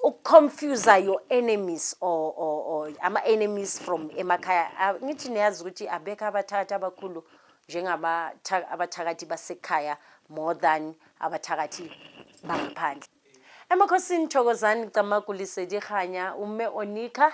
ukuconfuse your enemies or, or, or ama-enemies from emakhaya Ah, ngithi niyazi ukuthi abekho abathakathi abakhulu njengabatha- abathakathi basekhaya more than abathakathi bangaphandle emakhosini thokozani camakulise dikganya umme onika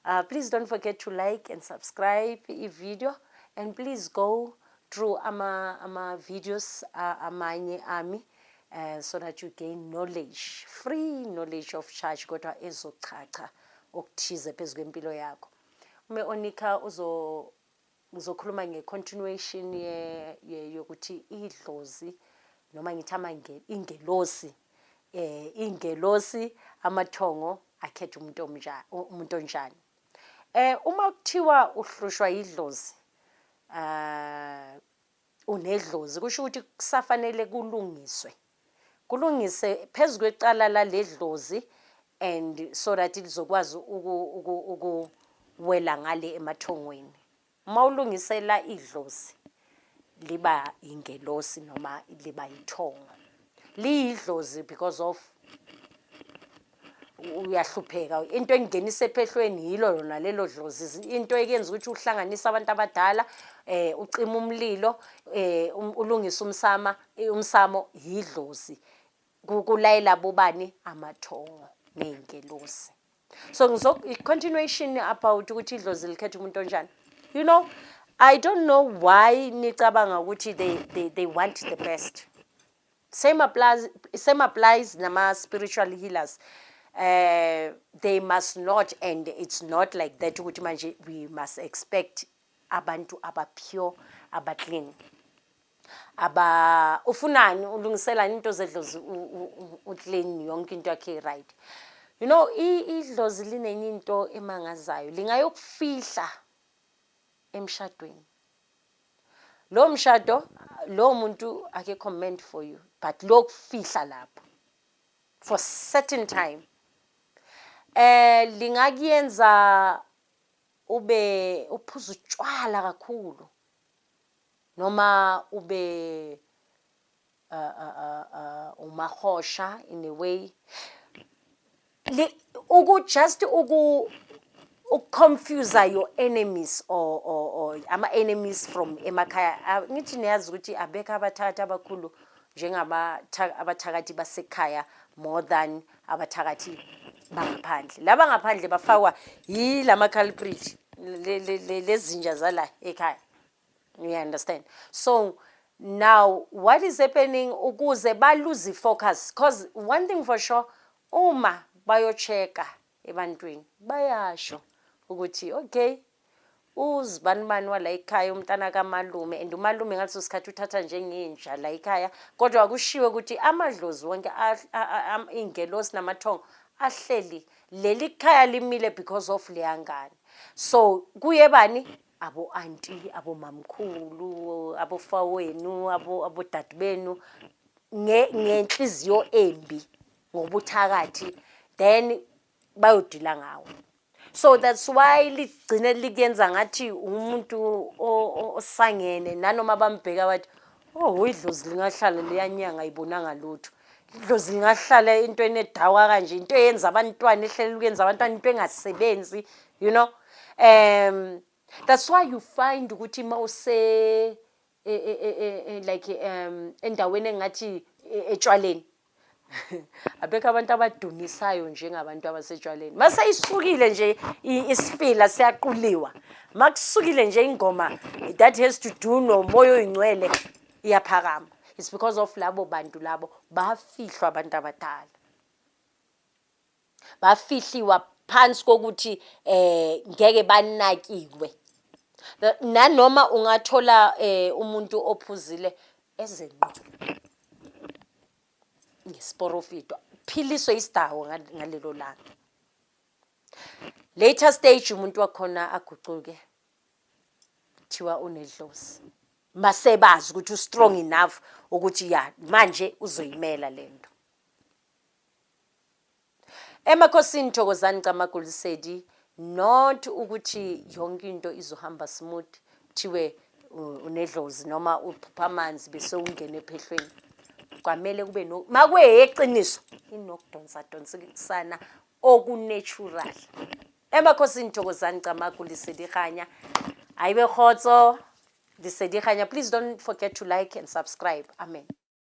uh, please don't forget to like and subscribe i-video and please go through ama, ama videos uh, amanye ami uh, so that you gain knowledge free knowledge of charge kodwa ezochacha okuthize phezu kwempilo yakho ume onika uzo ngizokhuluma nge-continuation yokuthi idlozi noma ngithi amangeni ingelosi eh ingelosi amathongo akhetha umuntu omnjani umuntu onjani eh uma kuthiwa uhlushwa idlozi ah unedlozi kusho ukuthi kusafanele kulungiswe kulungise phezu kwecala laledlozi and so that lizokwazi ukuwela ngale emathongweni uma ulungisela idlozi liba ingelosi noma liba ithongo liyidlozi because of uyahlupheka into engingenisa ephehlweni yilo lona lelo dlozi into ekenza ukuthi uhlanganise abantu abadala eh ucima umlilo eh um, ulungisa umsama eh, umsamo yidlozi kulayela bobani amathongo nezingelosi so ngizo continuation about ukuthi idlozi likhetha umuntu onjani you know i don't know why nicabanga ukuthi they they, they want the best Same applies, same applies nama spiritual healers. Uh, they must not and it's not like that ukuthi manje we must expect abantu abapure abaclean aba ufunani ulungisela into zedlozi uclean yonke into yakhe right you know idlozi linenye into emangazayo lingayokufihla emshadweni Lo mshado lo muntu akekho meant for you but lokufihla lapho for certain time eh lingakuyenza ube uphuza utshwala kakhulu noma ube umarhosha in a way uku just uku ukuconfuse your enemies or, or, or ama-enemies from emakhaya ah, ngithi niyazi ukuthi abekho abathakathi abakhulu njengabathakathi basekhaya more than abathakathi bangaphandle laba ngaphandle bafakwa yila ma-culprit lezinja zala ekhaya You understand? So now what is happening ukuze baluze focus because one thing for sure uma bayocheka ebantwini bayasho ukuthi okay uzibani bani wala ekhaya umntana kamalume and umalume ngaleso sikhathi uthatha njengenja la ekhaya kodwa kushiwe ukuthi amadlozi wonke ingelosi namathongo ahleli leli khaya limile because of leyangane so kuye bani abo anti abo mamkhulu abo fawenu abo abo dad benu nge ngenhliziyo embi ngobuthakathi then bayodila ngawo so that's why ligcine likuyenza ngathi umuntu osangene nanoma bambheka wathi Oh, idlozi lingahlala liyanyanga ayibonanga lutho. Idlozi lingahlala into enedawa kanje, into eyenza abantwana ehlele ukuyenza abantwana into engasebenzi, you know. Um that's why you find ukuthi mawuse e, e, e, like um endaweni engathi etshwaleni abekho abantu abadumisayo njengabantu abasetshwaleni maseyisukile nje isifila siyaquliwa makusukile nje ingoma that has to do nomoya oyingcwele iyaphakama it's because of labo bantu labo bafihlwa abantu abadala bafihliwa phansi kokuthi eh ngeke banakiwe nanoma ungathola eh umuntu ophuzile ezenqo ngesiporofito philiso isidawo ngalelo langa later stage umuntu wakhona agucuke kuthiwa unedlozi masebazi ukuthi ustrong enough ukuthi ya manje uzoyimela lento Emakhosini Thokozani Camagu Lesedi not ukuthi yonke into izohamba smooth kuthiwe unedlozi noma uphupha amanzi bese ungena ephehlweni kwamele kube no makuyeqiniso inokudonsa donsana okunatural emakhosini Thokozani Camagu Lesedi Khanya ayibe khotso Lesedi Khanya please don't forget to like and subscribe amen